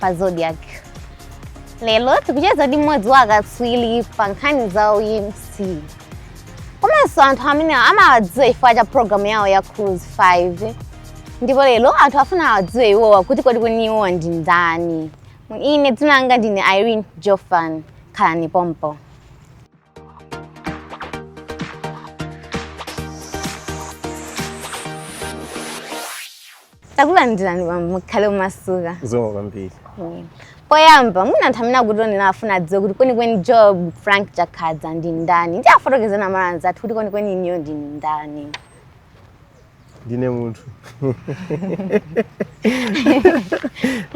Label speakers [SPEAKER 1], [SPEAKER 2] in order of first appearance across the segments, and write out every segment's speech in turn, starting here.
[SPEAKER 1] pa Zodiak lero tikucheza ndi mmodzi wa akatswiri pa nkhani za umc komanso anthu amene amawadziwa chifukwa cha programu yawo ya cruise 5 ndipo lero anthu afuna awadziwe iwowa kuti kodi kwenikweni iwowa ndi ndani ine dzina langa ndine Irene Jofan khalani pompo takulandirani bambo mukhale omasuka zikomo
[SPEAKER 2] kwambiri Mm.
[SPEAKER 1] poyamba mwina anthu amene akutionera afuna adziwe kuti kwenikweni Joab Frank Chakhaza ndi ndani ndiye afotokozereni Amalawi anzathu kuti kwenikweni inuyo ndinu ndani
[SPEAKER 2] ndine munthu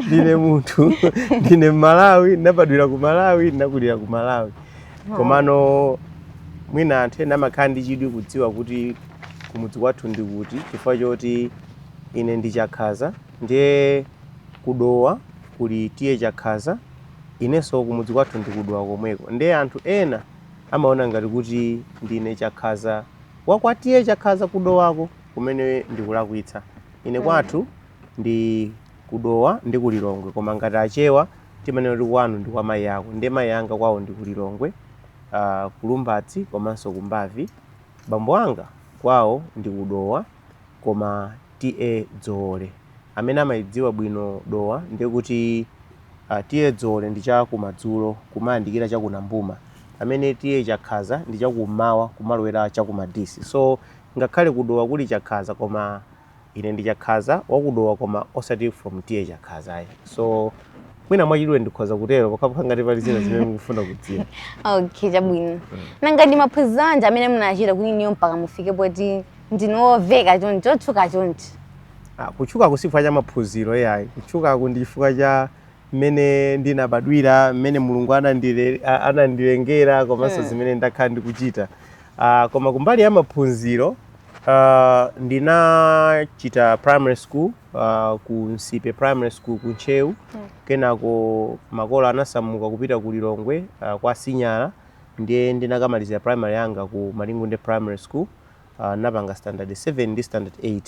[SPEAKER 2] ndine munthu ndine Mmalawi ndinabadwira ku malawi ndinakulira ku malawi komano mwina anthu ena amakhala ndi chidwi kudziwa kuti kumudzi kwathu ndi kuti chifukwa choti ine ndi chakhaza ndiye kudowa kuli TA Chakhaza inenso kumudzi kwathu ndi ku Dowa komweko ndiye anthu ena amaona ngati kuti ndine chakhaza wa kwa TA Chakhaza kudowako kumene ndikulakwitsa ine Mm. kwathu ndi kudowa ndi kulilongwe koma ngati achewa timanena kuti kwanu ndi kwa mayi ako ndiye mayi anga kwawo ndi kulilongwe uh, ku Lumbadzi komanso ku Mbavi Bambo anga kwawo ndi ku Dowa koma TA Dzoole. Amene amaidziwa bwino Dowa ndiye kuti a TA Dzoole ndi cha kumadzulo kumayandikira cha ku Nambuma pamene TA Chakhaza ndi cha kummawa kumalowera cha ku Madisi. So ngakhale ku Dowa kuli Chakhaza koma Ine ndi Chakhaza wa ku Dowa koma osati from TA Chakhaza ayi. So mwina mwachidule ndikhoza kutero pokhapokha ngati pali zina zimene mukufuna kudziwa. Okay, chabwino.
[SPEAKER 1] Nanga ndi maphunziro anji amene munachita kuti inuyo mpaka mufike poti ndinu omveka chonchi otchuka chonchi? Ah,
[SPEAKER 2] kutchukaku si chifukwa cha maphunziro yayi. Kutchukaku ndi chifukwa cha mmene ndinabadwira, mmene Mulungu anandile- a- anandilengera komanso zimene ndakhala ndikuchita. Ah, koma kumbali ya maphunziro Uh, ndinachita primary school uh, ku Nsipe primary school ku Ntcheu mm. kenako makolo anasamuka kupita ku Lilongwe uh, kwa Sinyala ndiye ndinakamalizira primary yanga ku Malingunde primary school uh, ndinapanga standard 7 ndi standard 8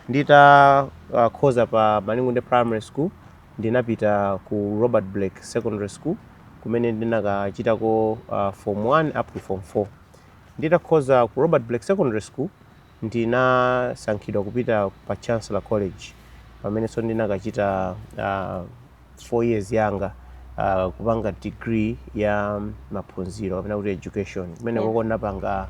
[SPEAKER 2] nditakhoza uh, pa Malingunde primary school ndinapita ku Robert Blake secondary school kumene ndinakachitako uh, form 1 up to form 4 Nditakhoza ku Robert Blake Secondary School, ndinasankhidwa kupita pa Chancellor College pamenenso ndinakachita uh, four years yanga uh, kupanga degree ya maphunziro kapena kuti education kumene koko ndinapanga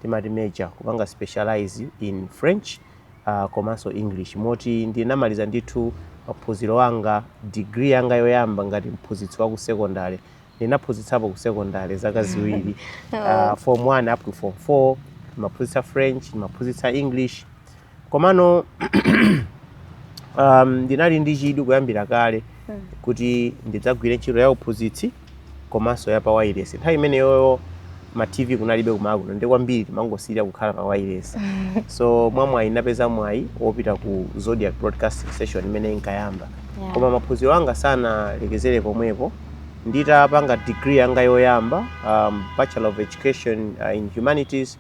[SPEAKER 2] timati major kupanga specialize in French uh, komanso English moti ndinamaliza ndithu maphunziro anga degree yanga yoyamba ngati mphunzitsi wa ku secondary ndinaphunzitsapo ku secondary zaka ziwiri uh, form 1 up to form 4 ndimaphunzitsa french ndimaphunzitsa english komano um, ndinali ndi chidwi kuyambira kale kuti ndidzagwire ntchito ya uphunzitsi komanso ya pa wayilesi nthawi imeneyoyo ma TV kunalibe kuMalawi kuno ndiye kwambiri timangosirira kukhala pa wayilesi so mwa mwayi napeza mwayi wopita ku Zodiak Broadcasting Station imene inkayamba Yeah. koma maphunziro anga sanalekezere pomwepo nditapanga degree yanga yoyamba um, bachelor of education uh, in humanities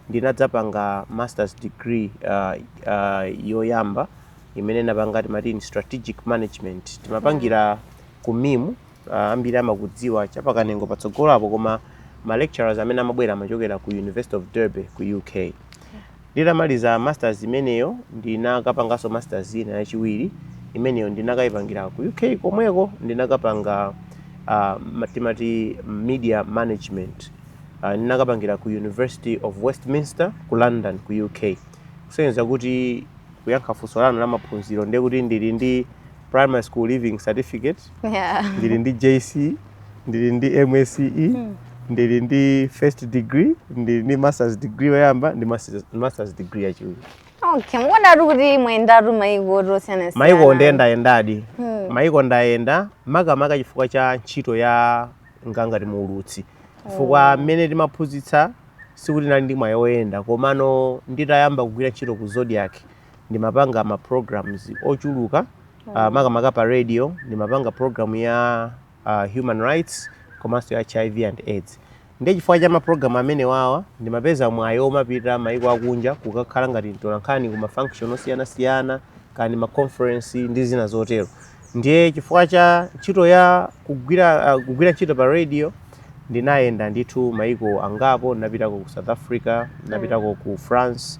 [SPEAKER 2] ndinadzapanga masters degree uh, uh, yoyamba imene napanga timati in strategic management timapangira ku MIM Ambiri amakudziwa cha pa Kanengo patsogolo apo koma ma lecturers amene amabwera amachokera ku University of Derby ku UK. Nditamaliza masters imeneyo ndinakapanganso masters ina yachiwiri imeneyo ndinakayipangira ku UK komweko ndinakapanga uh, timati media management uh, ndinakapangira ku University of Westminster ku London ku UK kusonyeza kuti kuyankha funso lanu la maphunziro ndiye kuti ndili ndi primary school leaving certificate yeah. ndili ndi jc ndili ndi msce mm. ndili ndi first degree ndili ndi masters degree yoyamba ndi masters, masters degree yachiwiri okay mukuoneka
[SPEAKER 1] kuti mwayendatu maiko osiyanasiyana maiko
[SPEAKER 2] ndayendadi hmm. maiko ndayenda makamaka chifukwa cha ntchito yanga ngati muulutsi chifukwa hmm. mmene timaphunzitsa sikuti nali ndi mwayi woyenda komano nditayamba kugwira ntchito ku Zodiak ndimapanga ma programs ochuluka uh, makamaka pa radio ndimapanga program ya uh, human rights komanso ya hiv and aids ndiye chifukwa cha mapulogalamu amene wawa ndimapeza mwayi omapita maiko akunja kukakhala ngati mtolankhani ku mafunction osiyanasiyana kaya maconference ndi zina zotero ndiye chifukwa cha ntchito ya kugwira, uh, kugwira ntchito pa radio ndinayenda ndithu maiko angapo napitako ku south africa napitako ku france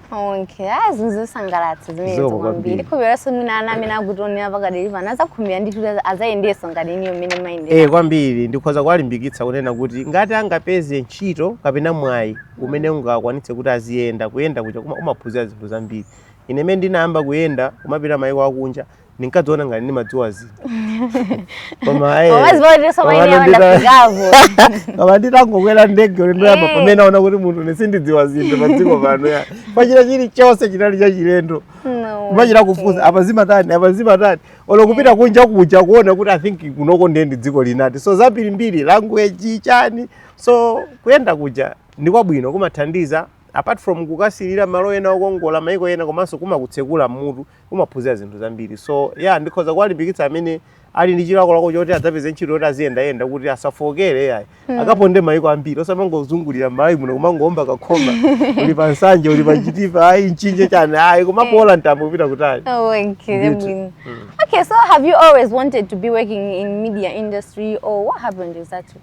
[SPEAKER 2] Okay,
[SPEAKER 1] ah, ndi zosangalatsa zimenezo Zikomo kwambiri kwambiri. ndikukhulupiriranso mwina ana amene akutionera pakadali pano azakhumbira ndithu azayendeso ngati inuyo mmene mwayendera Eh, kwambiri ndikhoza
[SPEAKER 2] kuwalimbikitsa kunena kuti ngati angapeze ntchito kapena mwayi umene ungakwanitse kuti aziyenda kuyenda kuja kuma- umaphunzira zinthu zambiri ine mene ndinayamba kuyenda kumapita mayiko akunja ndinkadziona ngati ndimadziwa zinthu koma eh, koma nditangokwera ndege ulendo yapa Eh. pamene naona kuti munthu ne sindidziwa zinthu padziko pano ya pachita chilichonse chinali chachilendo No. kumachita kufunsa apa zimatani apa zimatani olo kupita kunja kuja kuona kuti i think kunoko ndiye ndi dziko linati so zambirimbiri language chani so kuyenda kuja ndi kwabwino kumathandiza apart from kukasilira malo ena okongola maiko ena komanso kumakutsekula mmutu kumaphunzira zinthu zambiri so ya ndikhoza kuwalimbikitsa amene ali ndi chilakolako choti adzapeze ntchito yoti aziyendayenda kuti asafooke ayi hmm. akaponde mayiko ambiri osamangozungulira m'malawi muno kumangowomba kakhoma uli pa Nsanje uli pa Chitipa ayi Mchinji chani ayi kumapola eh. mtambo kupita kutali oh,
[SPEAKER 1] hmm. okay so have you always wanted to be working in media industry or what happened exactly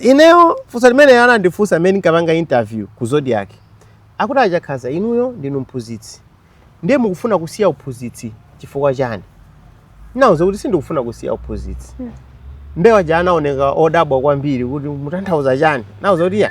[SPEAKER 2] ineyo funso limene anandifunsa mmene ndinkapanga interview ku Zodiak akuti a Chakhaza inuyo ndinu mphunzitsi ndiye mukufuna kusiya uphunzitsi chifukwa chani ndinauza kuti sindikufuna kusiya uphunzitsi mbewa zija anaoneka odabwa kwambiri kuti mutanthauza chani nauza kuti ya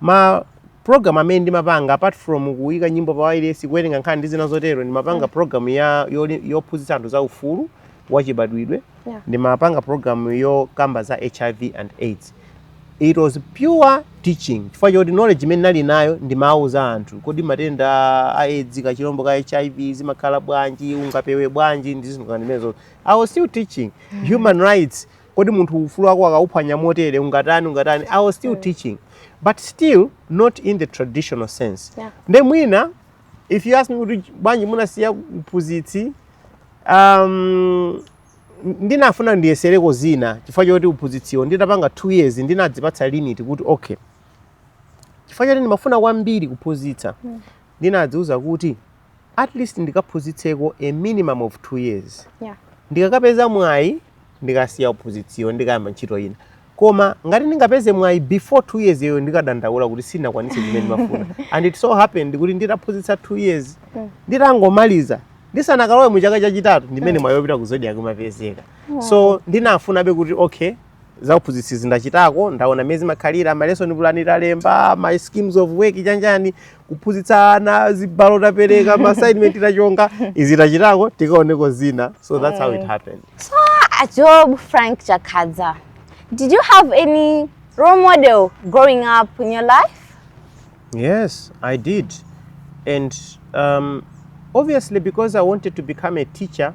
[SPEAKER 2] Ma program amene ndimapanga apart from kuika nyimbo pa wailesi, kuwerenga nkhani ndi zina zotero, ndimapanga mm. program ya yophunzitsa anthu za ufulu wachibadwidwe yeah. ndimapanga program yokamba za HIV and AIDS it was pure teaching chifukwa choti knowledge imene nali nayo ndimawauza anthu kodi matenda a aids kachilombo ka hiv zimakhala bwanji ungapewe bwanji ndi zinthu ngati zimenezo i was still teaching mm. human rights kodi munthu ufulu wako akauphwanya motere ungatani ungatani i was still mm. teaching but still not in the traditional sense yeah. nde mwina if you ask me kuti bwanji munasiya uphunzitsi um, ndinafuna ndiyesereko zina chifukwa choti uphunzitsiwo nditapanga two years ndinadzipatsa limit kuti okay chifukwa choti ndimafuna kwambiri kuphunzitsa mm. ndinadziuza kuti at least ndikaphunzitseko a minimum of two years yeah. ndikakapeza mwayi ndikasiya uphunzitsiwo ndikayamba ntchito ina koma ngati ndingapeze mwayi before two years yo ndikadandaula kuti sindinakwanitse zimene ndimafuna and it so happened kuti nditaphunzitsa two years mm. nditangomaliza ndisanakalowe mu chaka chachitatu ndimene mm. mwayi wopita ku Zodiak umapezeka mm. so ndinafunabe kuti okay zauphunzitsizi ndachitako ndaona mmene zimakhalira ma lesson plan talemba ma schemes of work chanjani kuphunzitsa ana zibalo tapereka ma assignment tachonga izi tachitako tikaoneko zina so that's how it happened Ah,
[SPEAKER 1] Job Frank Chakadza, did you have any role model growing up in your life? Yes,
[SPEAKER 2] I did. And um, obviously, because I wanted to become a teacher,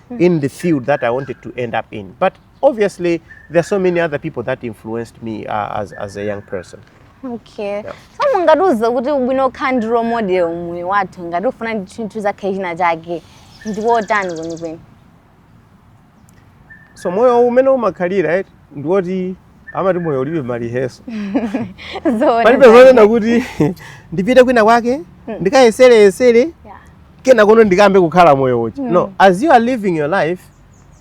[SPEAKER 2] mm. in the field that I wanted to end up in. But obviously, there are so many other people that influenced me uh, as, as a young person. Okay. Yeah.
[SPEAKER 1] So mungatiuze kuti ubwino wokhala ndi role model mmoyo wathu ngati ukufuna ndi chinthu udzakhale china chake ndi wotani kwenikweni?
[SPEAKER 2] So moyo umene umakhalira right? ndi woti amati moyo ulibe ma rehearsal Zoona palibe zake. zonena kuti ndipite kwina kwake Mm. ndikayesereyesere Yeah. kenakono ndikayambe kukhala moyo uchi Mm. no as you are living your life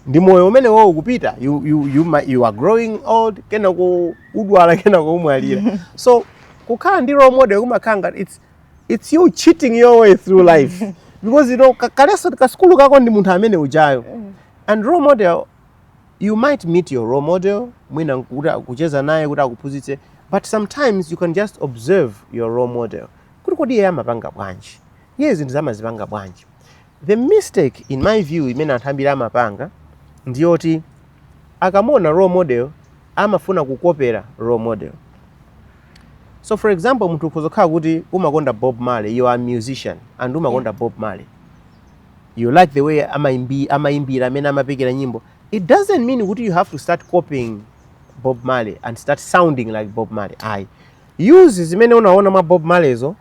[SPEAKER 2] ndi moyo umene uwo ukupita you, you, you, ma- you are growing old kenako udwala kenako umwalira so kukhala ndi role model kumakhala ngati it's, it's you cheating your way through life because you know ka- ka lesson kasukulu kako ndi munthu amene ujayo and role model you might meet your role model mwina kucheza naye kuti akuphunzitse but sometimes you can just observe your role model kuti kodi iye amapanga bwanji iye zinthu amazipanga bwanji the mistake in my view imene anthu ambiri amapanga ndiyoti akamuona role model amafuna kukopera role model so for example munthu ukhoza kukhala kuti umakonda bob marley you are a musician and umakonda bob marley you like the way amaimbi, amaimbira mmene amapekera nyimbo it doesn't mean kuti you have to start copying bob marley and start sounding like bob marley ayi use zimene unaona mwa bob marleyzo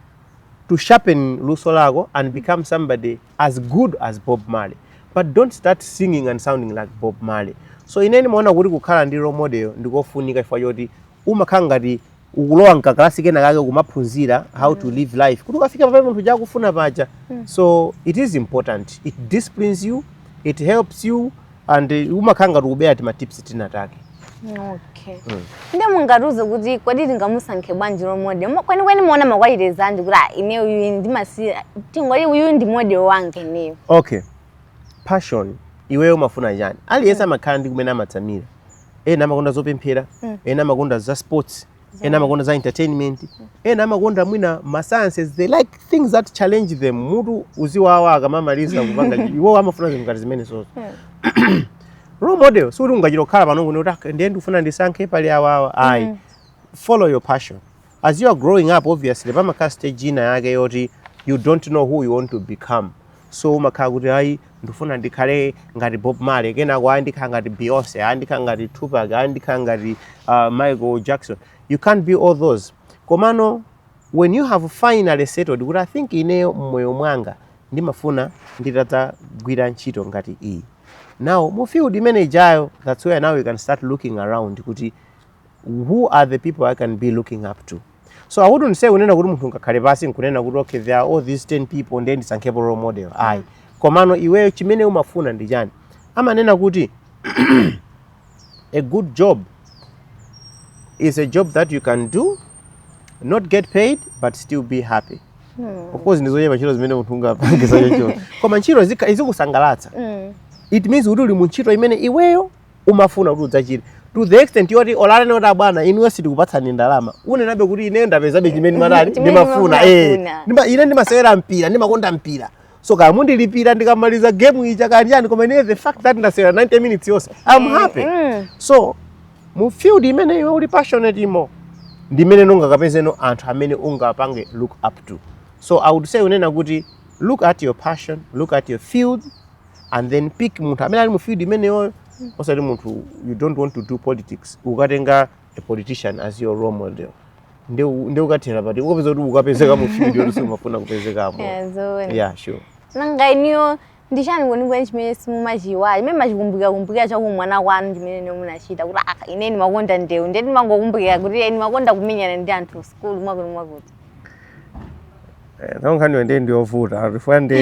[SPEAKER 2] to sharpen luso lako and become somebody as good as bob marley but don't start singing and sounding like bob marley so ine ndimaona kuti kukhala ndi role model ndikofunika chifukwa choti umakhala ngati ukulowa mkakalasi kena kake kumaphunzira how to live life kuti ukafika pamene munthu uja akufika paja so it is important it disciplines you it helps you and uh, umakhala ngati ukubera tima tips tinatake
[SPEAKER 1] okay ndiye mungatiuze kuti kodi tingamusankhe bwanji role model Mo- kwenikweni muona ma qualities anji kuti ah, ine uyu ndimasiya tingoti uyu ndi model wanga ineyo okay
[SPEAKER 2] passion iweyo umafuna chani aliyense amakhala ndi kumene amatsamira ena amakonda zopemphera mm. ena amakonda za sports ena amakonda za entertainment ena amakonda mwina ma sciences they like things that challenge them mutu uziwawa akamamaliza kupanga iwo amafuna zinthu ngati zimenezozo hmm. role model sikuti ungachita kukhala pano n'kunena kuti ah, ndiye ndikufuna ndisankhe pali awawa ayi mm. follow your passion As you are growing up obviously pamakhala stage ina yake yoti you don't know who you want to become so umakhala kuti ayi ndifuna ndikhale ngati bob marley kenako ayi ndikhala ngati beyonce ayi ndikhala ngati tupac ayi ndikhala ngati uh, michael jackson you can't be all those komano when you have finally settled kuti i think ineyo mmoyo mwanga ndimafuna nditadzagwira ntchito ngati iyi now mu field imene ijayo that's where now you can start looking around kuti who are the people i can be looking up to so i wouldn't say kunena kuti munthu ungakhale pansi nkunena kuti okay there are all these 10 people ndiye ndisankhepo role model ayi mm. komano iweyo chimene umafuna ndi chani amanena kuti a good job is a job that you can do not get paid but still be happy hmm. of course ndizochepa ntchito zimene munthu ungapange za chocho koma ntchito izikusangalatsa mm. it means kuti uli mu ntchito imene iweyo umafuna kuti udzachite to the extent yoti olo anene kuti abwana inuyo sitikupatsani ndalama unenabe kuti ineyo ndapezabe chimene ndimatani Chimene ndimafuna eh. ndimafuna. Ndima- ine ndimasewera mpira ndimakonda mpira so kaya mundilipira ndikamaliza game ija kanjani koma ine the fact that ndasewera 90 minutes yonse i'm happy Mm. so mu field imene iwe uli passionate imo ndi imene nungakapezeno anthu amene ungapange look up to so i would say kunena kuti look at your passion look at your field and then pick munthu amene ali mu field imeneyoyo mm. osati munthu you don't want to do politics ukatenga a politician as your role model nde ukakathera pati ukapeza kuti ukapezeka mu field yoti siumafuna kupezekamo yeah sure nanga
[SPEAKER 1] inuyo ndi chani kwenikweni chimene simumachiiwala chimene mumachikumbukira kumbukira cha kuumwana kwanu chimene munachita kuti aka ah, ine ndimakonda ndewu ndiye ndimangokumbukira kuti ine ndimakonda kumenyana ndi anthu sukulu mwakuti mwakuti Eh,
[SPEAKER 2] nayo nkhaniyo ndiye ndiyovuta chifukwa ndi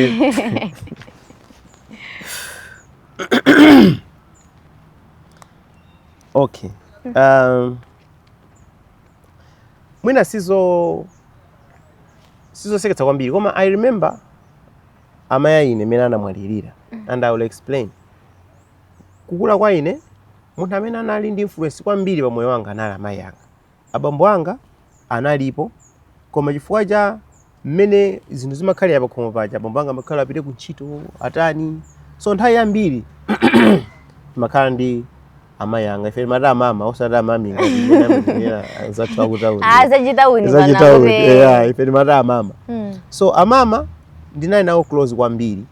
[SPEAKER 2] okay um, mwina sizo sizoseketsa kwambiri koma i remember amayi aine mmene anamwalirira and i will explain kukula kwa ine munthu amene anali ndi influence kwambiri pa moyo wanga anali amayi anga Abambo anga analipo, koma chifukwa cha mmene zinthu zimakhalira pakhomo paja, abambo anga amakhala apite kuntchito, atani. So nthawi yambiri timakhala ndi amayi anga. Ife timati amama osati amami ngati mmene amanenera anzathu akutauni. Ah, zachitauni pano Zachitauni,
[SPEAKER 1] akuti. yeah, ife
[SPEAKER 2] timati amama. Mm. So amama ndinali nawo close kwambiri.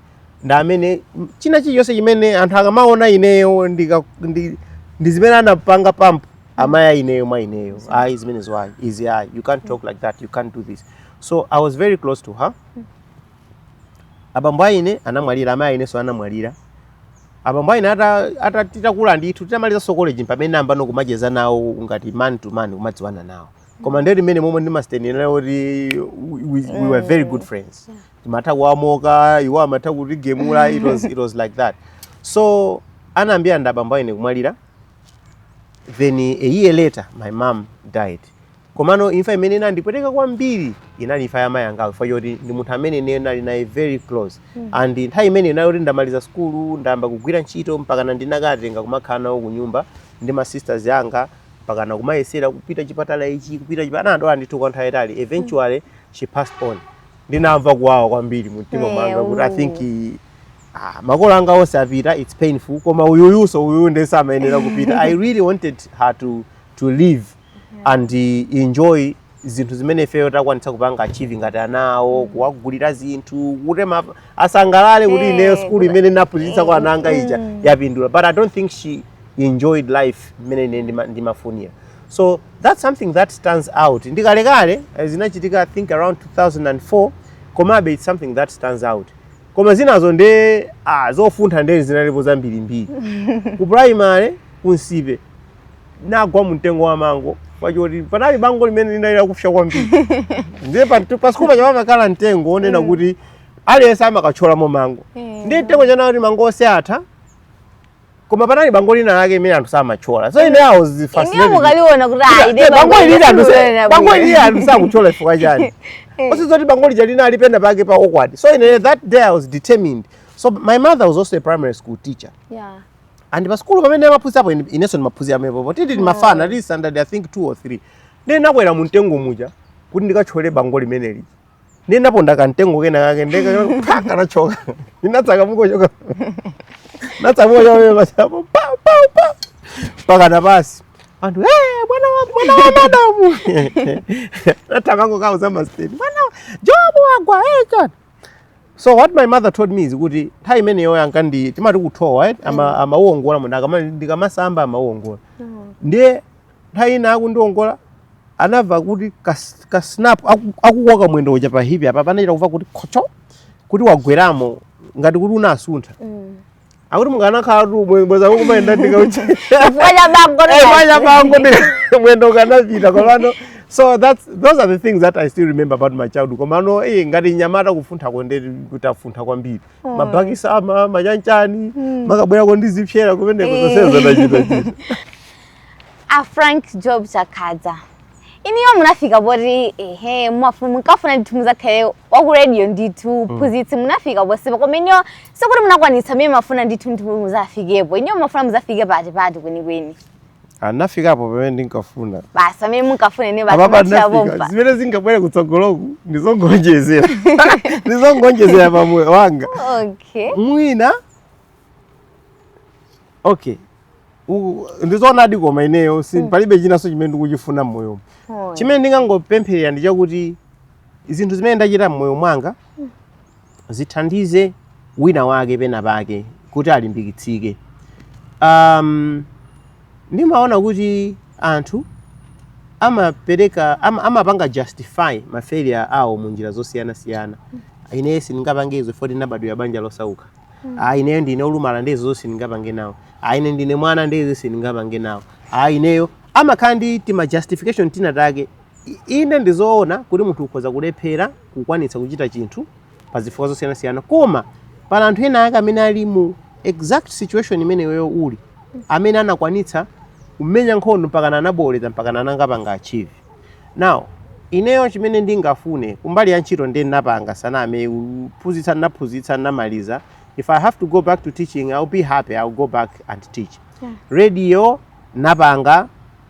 [SPEAKER 2] ndi amene china chilichonse chimene anthu akamaona ineyo ndika- ndi ndi zimene anapanga pump amayi aineyo mwa ineyo ayi zimenezo ayi izi ayi you can't talk like that you can't do this so i was very close to her abambo aine anamwalira amayi ainenso anamwalira abambo aine ata- ata- titakula ndithu titamalizanso college pamene ndinayambano kumacheza nawo ngati man to man kumadziwana nawo koma ndi mmene momwe ndimanenera kuti we, we were very good friends timatha kuwa mocka iwo amatha kutigemula it was, it was like that so anayambira ndi abambo aine kumwalira then a year later my mom died komano imfa imene inandipweteka kwambiri inali imfa ya mayi angayo chifukwa choti ndi munthu amene ine ndinali naye very close and nthawi imene inali kuti ndamaliza sukulu ndayamba kugwira ntchito mpakana ndinakawatenga kumakhala nawo ku nyumba ndi ma sisters anga mpakana kumayesera kupita chipatala ichi kupita chipatala anadwala ndithu kwa nthawi yayitali eventually she passed on ndinamva kuwawa kwambiri mu mtima mwanga kuti i think ah, makolo anga onse apita it's painful koma uyuyuso uyu nde samayenera kupita i really wanted her to, to live and uh, enjoy zinthu zimene ifeyo takwanitsa kupanga achieve ngati anawo kuwagulira zinthu kuti ma- asangalale kuti Eh, ineyo skulu imene naphunzitsa kwa ana anga ija yapindula but i don't think she enjoyed life mmene ine ndima- ndimafunira so that's something that stands out ndikalekale eh, zinachitika think around 2004 komabe it's something that stands out koma zinazo nde ah, zofuntha nde zinalipo zambirimbiri ku primary ku nsipe nagwa mumtengo wa mango wachoti panali bango limene linali lakupsa kwambiri ndiye pasikulu paja pamakhala mtengo wonena mm. kuti aliyense amakathyolamo mango mm. ndiye mtengo uja naona kuti mango onse atha koma panali bango lina lake limene anthu samatchola so ine i was fascinated ndikaliona
[SPEAKER 1] kuti aide bango ili anthu
[SPEAKER 2] bango ili anthu sakutchola chifukwa chani eh. osadziwa zoti bango lija linali penapake pa awkward so ine that day i was determined so my mother was also a primary school teacher
[SPEAKER 1] yeah and pa
[SPEAKER 2] school pamene amaphunzitsapo inenso ndimaphunzira pomwepo tili mafana oh. tili standard i think 2 or 3 ndinakwera mu mtengo muja kuti ndikatchole bango limene lija ndinaponda kamtengo kena kake nde kanathyoka ndinatsakamuka kuchoka natsakamuka kuchoka basi apo pa pa pa mpakana pansi anthu "Eh, mwana wa mwana wa madamu anathamanga kukawauza masteni mwana wa- joab wagwa eh, chani so what my mother told me is kuti nthawi imeneyo ankandi- timati kuthowa eh, ama- amawongola munthu akama- ndikamasamba amawongola ndiye nthawi ina akundiongola anamva kuti ka snap akukoka mwendo uja pa hipi apa panachita kumva kuti khocho kuti wagweramo ngati kuti unasuntha mm. akuti mukanakhalatu bweza kumayenda ndikauchaabango mwendo ukanapita komano so that's, those are the things that i still remember about my childhood komano e eh, ngati nyamata kufunthako nde kuti nafuntha kwambiri mm. mabhakisi ama ma chani chani mm. makabwerako ndi zipsera kumeneko eh. zonsezo nachitachita
[SPEAKER 1] a frank joab chakhaza inuyo munafika poti ehe mumafu- munkafuna ndithu muzakhale waku radio ndithu mphunzitsi munafika ponsepa koma inuyo sikuti munakwanitsa mmene mumafuna ndithu ndithu muzafikepo inuyo mumafuna muzafike pati pati kwenikweni a
[SPEAKER 2] nafikapo pamene ndinkafuna basi pamene
[SPEAKER 1] munkafuna ine apapa basi ndinafika machapompa zimene
[SPEAKER 2] zingabwere kutsogoloku ndizongonjezera ndizongonjezera pa moyo wanga okay mwina okay ndizoonadi koma ineyo si mm. palibe chinanso chimene ndikuchifuna mmoyo oh. chimene ndingangopempherera ndi chakuti zinthu zimene ndachita mmoyo mwanga mm. zithandize wina wake pena pake kuti alimbikitsike um, ndimaona kuti anthu amapereka am, amapanga justify mafailure awo mu njira zosiyanasiyana mm. ineyo sindingapange izo poti ndinabadwira banja losauka ayi ineyo ndine olumala nde izo sindingapange nawo ayi ine ndine mwana nde izo sindingapange nawo ayi ineyo amakhala ndi tima justification tina take inde ndizoona kuti munthu ukhoza kulephera kukwanitsa kuchita chinthu pa zifukwa zosiyanasiyana koma pala anthu ena ake amene ali mu exact situation imene iweyo uli amene anakwanitsa kumenya nkhondo mpakana anabooleza mpakana anangapanga achieve Now, ineyo chimene ndingafune kumbali ya ntchito nde nnapanga same name kuphunzitsa nnaphunzitsa nnamaliza if i have to go back to teaching i will be happy i will go back and teach yeah. radio nnapanga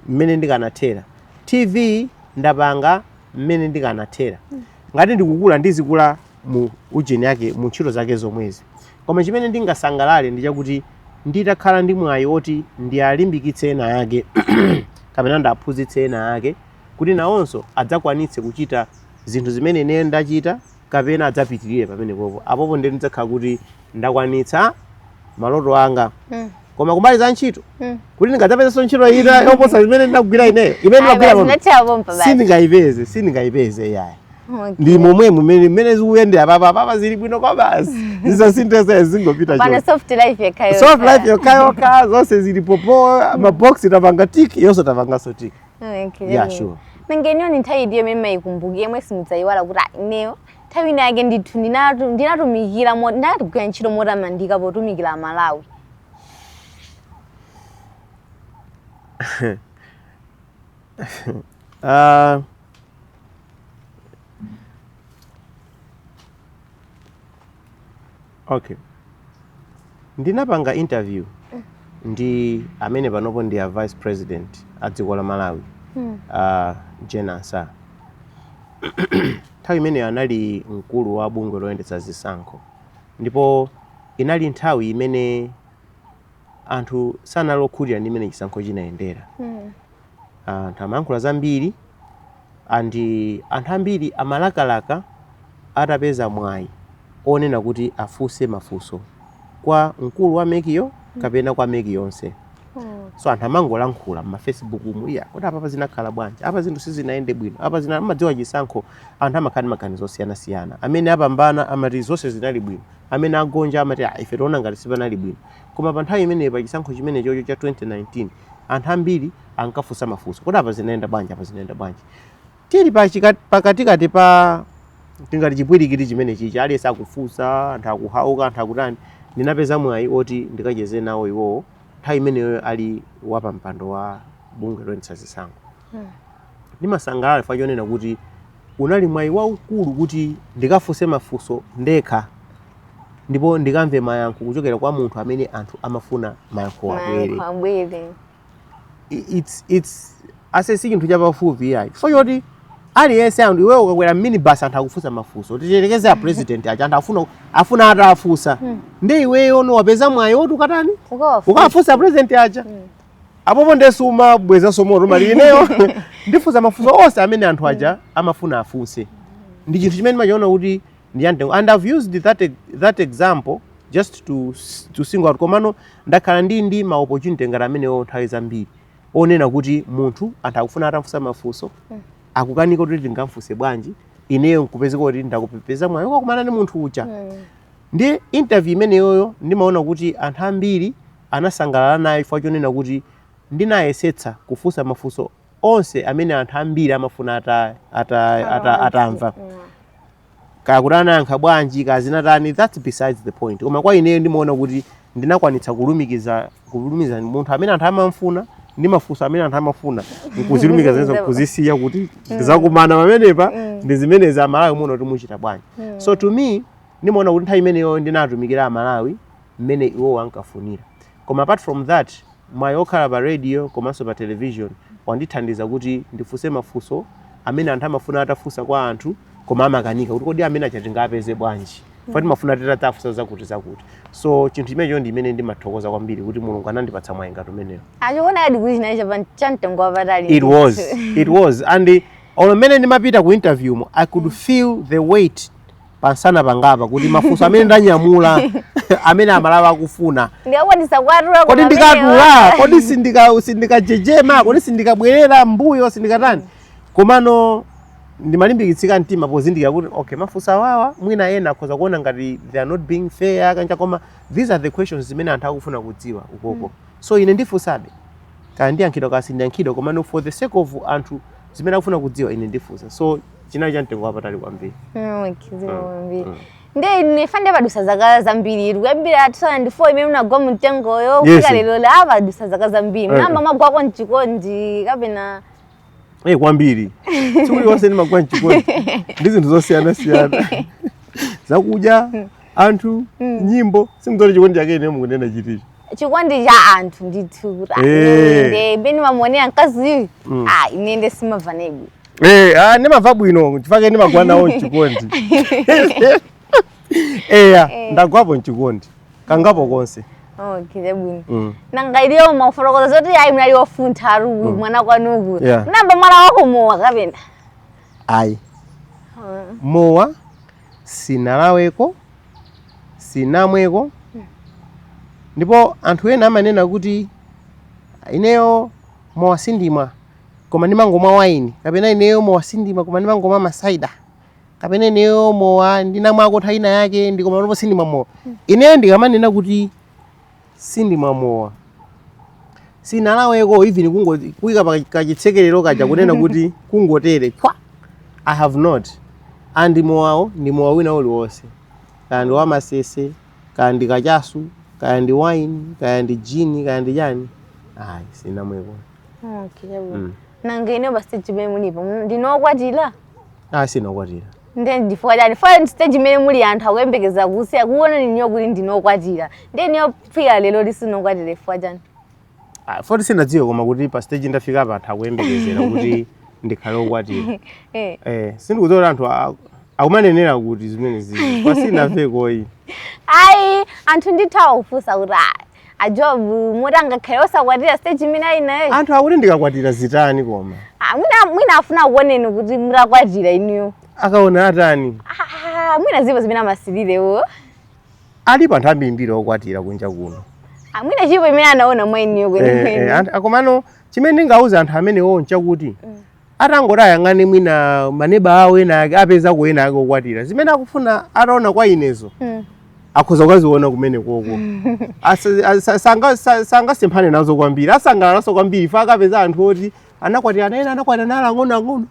[SPEAKER 2] mmene ndikanathera tv ndapanga mmene ndikanathera mm. ngati ndikukula ndizikula mu ujeni yake mu ntchito zake zomwezi. Koma chimene ndingasangalale ndi chakuti nditakhala ndi mwayi woti ndialimbikitse ena ake kapena ndiaphunzitse ena ake kuti nawonso adzakwanitse kuchita zinthu zimene ine ndachita kapena adzapitirire pamenepopo apopo ndiye ndidzakhala kuti ndakwanitsa maloto anga Mm. koma kumbali za ntchito Mm. kuti ndingadzapezenso ntchito ina yoposa zimene ndinagwira ineyo imene Ayi, ndinagwira basi, pano zinathera pompa basi. sindingayipeze sindingayipeze yayi Okay. ndi momwe mmene mmene zikuyendera papa papa zili bwino kwabasi zisasinthenso zingopita choncho. soft
[SPEAKER 1] life yokhayo. soft life
[SPEAKER 2] yokhayokha zonse zilipo pa maboksi tapanga tiki yonse tapanganso tiki Okay. yeah sure nanga inuyo ni nthawi
[SPEAKER 1] itiyo imene mumayikumbukira yomwe simudzayiwala kuti "Ah, ineyo Nthawi ina yake ndithu ndinatu- ndinatumikira mo- ndinagwira ntchito motamandika potumikira Amalawi. Ah,
[SPEAKER 2] okay ndinapanga interview ndi amene panopo ndi a vice president a dziko la malawi Hmm. a jane ansah nthawi imeneyo anali mkulu wa bungwe loyendetsa zisankho ndipo inali nthawi imene anthu sanali okhutira ndi mmene chisankho chinayendera Hmm. Anthu amayankhula zambiri and anthu ambiri amalakalaka atapeza mwayi onena kuti afunse mafunso kwa mkulu wa MEC yo kapena kwa MEC yonse. So anthu amangolankhula m'ma Facebook mu iyayi kuti apapa zinakhala bwanji, apa zinthu sizinayende bwino, apa zina mumadziwa chisankho anthu amakhala ndi maganizo osiyanasiyana. Amene apambana amati zonse zinali bwino, amene agonja amati ah ife tikuona ngati sipanali bwino. Koma pa nthawi imeneyo pa chisankho chimenechocho cha 2019 anthu ambiri ankafunsa mafunso kodi apa zinayenda bwanji apa zinayenda bwanji tili pa chika- pakatikati pa tingati chipwirikiti chimene chichi aliyense akufunsa anthu akuwawuka anthu akutani ndinapeza mwayi oti ndikacheze nawo iwowo nthawi imeneyo ali wapampando wa bungwe loyendetsa zisankho ndinasangalala chifukwa chonena kuti unali mwayi waukulu kuti ndikafunse mafunso ndekha ndipo ndikamve mayankho kuchokera kwa munthu amene anthu amafuna mayankho abwere abwere it's it's aise si chinthu chapafupi yayi chifukwa choti aliyense anthu iweyo ukakwera minibus anthu akufunsa mafunso tiyerekeze a president aja anthu akufuna akufuna atafunsa hmm. nde iweyo ndi wapeza mwayi woti ukatani ukafunsa president aja hmm. apopo nde sumabwezanso moto amvekere ineyo ndifunsa mafunso onse amene anthu aja amafuna afunse ndi chinthu chimene ndimachiona kuti ndi chamtengo and i've used that, e- that example just to, s- to single out komano ndakhala ndi ndi ma opportunity ngati amenewo nthawi zambiri onena kuti munthu anthu akufuna atamfunsa mafunso akukanika kuti ndingamfunse bwanji ineyo nkupezeka kuti ndapeza mwayi wakumana ndi munthu uja ndi interview imeneyoyo ndimaona kuti anthu ambiri anasangalala nayo chifukwa chonena kuti, Ndinayesetsa kufunsa mafunso onse amene anthu ambiri amafuna ata, ata, ata, atamva. Kaya kuti anayankha bwanji, kaya zinatani, that's besides the point. Koma kwa ineyo ndimaona kuti ndinakwanitsa kulumikiza kulumikiza munthu amene anthu amamfuna ndi mafunso amene anthu amafuna nkuzilumikiza zimenezo nkuzisiya kuti zakumana pamenepa ndi zimenezi amalawi muona kuti muchita bwanji so to me ndimaona kuti nthawi imeneyo ndinatumikira amalawi mmene iwowo ankafunira. Koma apart from that, mwayi okhala pa radio komanso pa television wandithandiza kuti ndifunse mafunso amene anthu amafuna atafunsa kwa anthu koma amakanika kuti kodi amene aja tingawapeze bwanji poti timafuna titawafunsa zakuti zakuti so chinthu chimenecho ndi chimene ndimathokoza kwambiri kuti mulungu anandipatsa mwayi ngati umenewo munachionadi kuti
[SPEAKER 1] chinali chapa cha mtengo wapatali it was it was
[SPEAKER 2] and uh, olo mmene ndimapita ku interview mu i could feel the weight pamsana pangapa kuti mafunso amene ndanyamula amene amalawi
[SPEAKER 1] akufuna kodi
[SPEAKER 2] ndikatula kodi sindikajejema kodi sindikabwerera mbuyo sindikatani komano ndimalimbikitsika mtima pozindikira kuti okay mafunso awawa mwina ena akhoza kuona ngati they are not being fair kanja koma these are the questions zimene anthu akufuna kudziwa ukoko mm. so ine ndifunsabe kaya ndiyankhidwa kaya sindiyankhidwa komano for the sake of anthu zimene akufuna kudziwa ine ndifunsa so chinali cha mtengo wapatali kwambiri
[SPEAKER 1] mm. nde nefa nde padutsa zaka zambiri kuyambira 2004 imene munagwa mumtengoyo kufika lero padutsa zaka zambiri eh. munayamba mwagwako mchikondi kapena eh
[SPEAKER 2] kwambiri tsiku lililonse ndimagwa mchikondi ndi zinthu zosiyana siyana zakudya hmm. anthu hmm. nyimbo sindidziwa kuti chikondi chake inuyo mukunena chiticho chikondi
[SPEAKER 1] cha anthu ndithu kuti ah, Eh. inde mmene ndimamuonera mkaziyu Mm. ah, ine nde ndimamva naye bwino Eh, ah, ndimamva
[SPEAKER 2] bwino chifukwa chake ndimagwa nawo mchikondi eya Eh. ndagwapo mchikondi kangapo konse okay
[SPEAKER 1] chabwino Mm. nanga inuyo mwafotokoza zoti ayi munali wofuntha muli mwana kwanuko Yeah. munayamba mwalawako mowa kapena ayi
[SPEAKER 2] mowa sinalaweko sinamweko ndipo anthu ena amanena kuti ineyo mowa sindimwa koma ndimangomwa waini kapena ineyo mowa sindimwa koma ndimangomwa masaida kapena ineyo mowa ndinamwako nthawi ina yake nde koma panopo sindimwa mowa ineyo ndikamanena kuti sindimwa mowa sinalaweko even kungo kuika pa kachitsekerero kaja kunena kuti kungotere pwa i have not and mowawo ndi mowa wina uliwonse kaya ndi wamasese kaya ndi kachasu kaya ndi wine kaya ndi gin kaya ndi chani ayi sinamweko Okay, chabwino. Mm.
[SPEAKER 1] nanga inu pa stage pamene mulipo ndinu okwatira ayi
[SPEAKER 2] sinakwatira ndiye
[SPEAKER 1] chifukwa chani chifukwa stage imene muli anthu akuyembekezera kuti akuoneni inuyo kuti ndinu okwatira ndiye inuyo kufika lero sindinu okwatira chifukwa chani Ah, poti
[SPEAKER 2] sinadziwe koma kuti pa stage ndafika apa anthu akuyembekezera kuti ndikhale okwatira eh eh sindikudziwa kuti anthu a- akumanenera kuti zimenezi chifukwa sinamveko ayi ayi
[SPEAKER 1] anthu ndithu akufunsa kuti ah, a joab moti angakhale osakwatira stage imene ali nayo anthu akuti
[SPEAKER 2] ndikakwatira zitani koma Ah, mwina mwina afuna
[SPEAKER 1] akuoneni kuti mutakwatira inuyo akaona atani
[SPEAKER 2] Ah, mwina
[SPEAKER 1] zipo zimene amasirirewo
[SPEAKER 2] alipo anthu ambirimbiri okwatira kunja kuno Ah, mwina chipo chimene
[SPEAKER 1] anaona mwa inuyo Eh, eh, kwenikweni anthu-
[SPEAKER 2] komano chimene ndingauza anthu amenewo nchakuti atangoti ayang'ane mwina maneba awo ena ake apezako ena ake okwatira zimene akufuna ataona kwa inezo Mm. akhoza kukaziona kumene koko Asa- asa- sanga- sa- sangasemphane nazo kwambiri asangalalanso kwambiri fa akapeza anthu oti anakwatirana ena anakwatirana ali ang'onoang'ono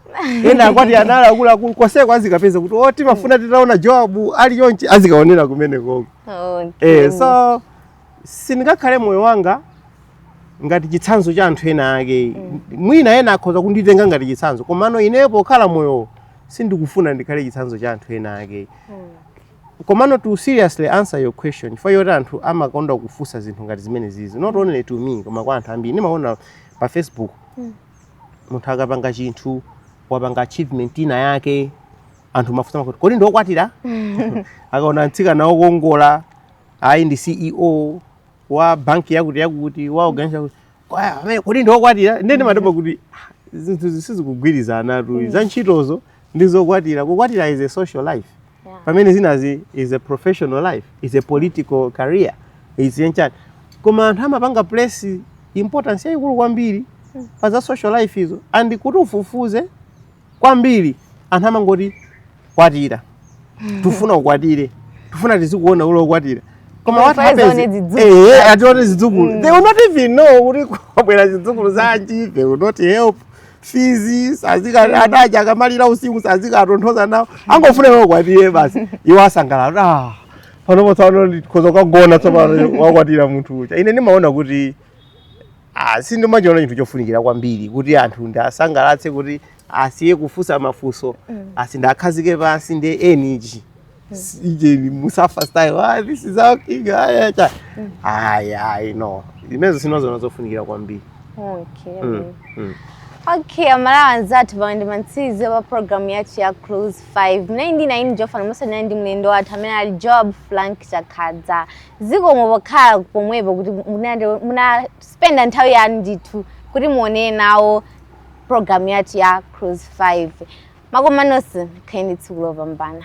[SPEAKER 2] ena akwatirana ali akuluakulu konseko azikapeza kuti o timafuna titaona joabu ali chonchi azikaonera kumene koko Okay. eh, so sindingakhale moyo wanga ngati chitsanzo cha anthu ena ake mwina ena akhoza kunditenga ngati chitsanzo komano ineyo pokhala moyo sindikufuna ndikhale chitsanzo cha anthu ena ake komano to seriously answer your question chifukwa choti anthu amakonda kufunsa zinthu ngati zimenezizi not only to me koma kwa anthu ambiri ndimaona pa facebook munthu akapanga chinthu wapanga achievement ina yake anthu amafunsa makuti kodi ndiokwatira akaona mtsikana wokongola ayi ndi ceo wa banki yakuti yakuti wa organization yakuti Kwa- amene kodi ndiokwatira ndene ndimadabwa kuti "Ah, zinthuzi sizikugwirizanatu za ntchitozo ndi zokwatira kukwatira is a social life Yeah. pamene zinazi is a professional life is a political career is a chani koma anthu amapanga place importance yayikulu kwambiri pa za social life izo and kuti ufufuze kwambiri anthu amangoti kwatira tufuna ukwatire tufuna tizikuona uli okwatira koma Koma what faizi happens one zidzukulu. eh eh, atione zidzukulu they will not even know kuti kwabwera zidzukulu zanji they will not help fees sazika- ana aja akamalira usiku sazikaatonthoza nawo angofuna iwo ukwatire basi iwo asangalala ah panopo tsopano ndikhoza kukagona tsopano wakwatira munthu uja ine ndimaona kuti Ah, sindimachiona chinthu chofunikira kwambiri kuti anthu ndiasangalatse kuti asiye kufunsa mafunso mm. asi- ndiakhazike pansi ndi energy mm. ijeni musafa style ah, this is our king aya cha mm. aya no zimenezo sindiziona zofunikira kwambiri
[SPEAKER 1] okay. mm. mm. Okay, aMalawi anzathu pamene mantsize wa program yathu ya Cruise 5 munali ndi ine Jofan Musa ndi mlendo wathu amene ali Joab Frank Chakhaza Zikomo pokhala pomwepo kuti munande- munaspenda nthawi yanu ndithu kuti muonere nawo program yathu ya cruise 5 makoma nonse mukhale ndi tsiku lopambana